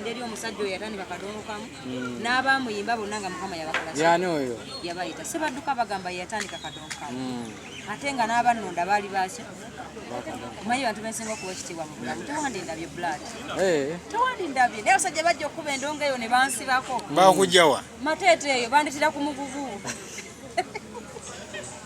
eri omusajja oyo yatandika kadongo kamu hmm. n'abamuyimba bonna nga mukama yabakolayani oyo yabayita si badduka bagamba yeyatandika kadongo kamu hmm. ate nga n'abannonda baali baki omanyi bantu bensinga okuwa ekitiibwa mu bulamu tewandindabye blood eh. tewandindabye naye abasajja bajja okukuba endongo eyo ne bansibako bakujjawa mateete eyo banditira ku mugugu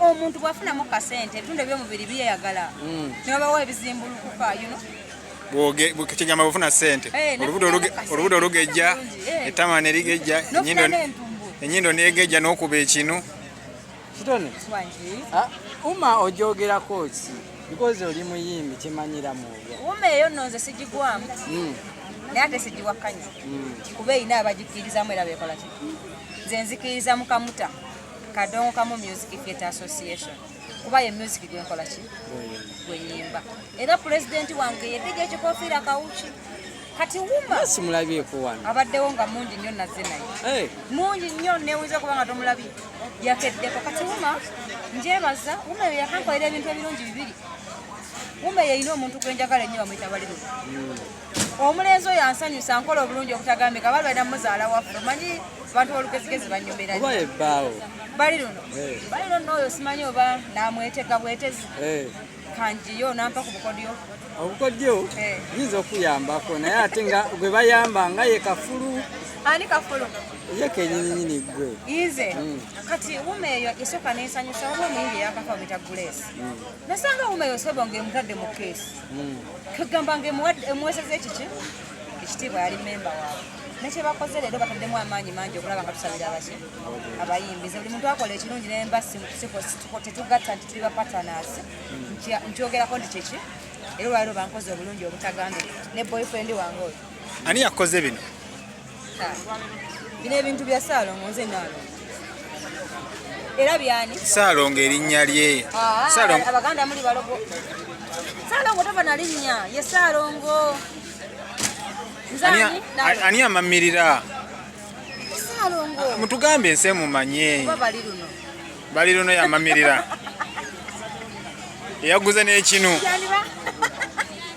omuntu bwafunamu kasente ebitundu ebyomubiri byeyagala hmm. nebabawa ebizimbulukuka yuno kyegamba bufuna sente eh, olubuto olugejja eh. ettama nerigejja enyindo negejja nokuba ekinu kitone ah, uma ojogerako ki because oli muyimbi kimanyira mwoyo uma eyo nonze sigigwamu hmm. naye ate sigiwakanya hmm. kuba erina abagikirizamu era bekola ki nze nzikiriza mukamuta kadongo kamu music theatre association kuba ye music gwenkola ki gwenyimba era pulezidenti wange yedija ekikofiira kawuki kati wumamulabyeko wano abaddewo nga mungi nnyo nazze naye eh. mungi nnyo newuza okuba nga tomulabye yakeddeko kati wuma njebaza wuma eyo yakankolera ebintu ebirungi bibiri wuma yeyina omuntu gwenjagala ennyo bamuyita baliro hmm. omulenzi oyo ansanyusa nkola obulungi okutagambika bali balina muzaala waffe omanyi abantu bolugezigezi banyumira bali luno eh. bali luno oyo simanyi oba namwetega bwetezi eh. kanjiyo nampa ku bukodyo obukodyo eh. yinza okuyambako naye ate nga gwe bayamba nga ye kafulu ani kafulu ye kenyininyini gwe ize mm. kati wuma eyo esooka nensanyusa oba omuyimbi yakafa bita gulesi mm. nasanga wuma eyo sebonga emutadde mu keesi hmm. kagamba nga emuweseza ekiki ekitiibwa yali memba waabwe nekyebakoze leero bataddemu amaanyi mangi okulaba nga tusabira abaki abayimbi ze buli muntu akola ekirungi naye mba tetugatta nti tuli bapatanas hmm. nkyogerako nti kyeki era olwaliro bankoze obulungi obutagambika ne boyfriend wange oyo ani yakoze bino bino ebintu bya saalongo nze naalongo era byani saalongo erinnya lye ah, abaganda muli balogo saalongo tova na linnya ye saalongo ani amamirira mutugambe ensi emumanye bali luno yamamirira eyaguze n'ekinu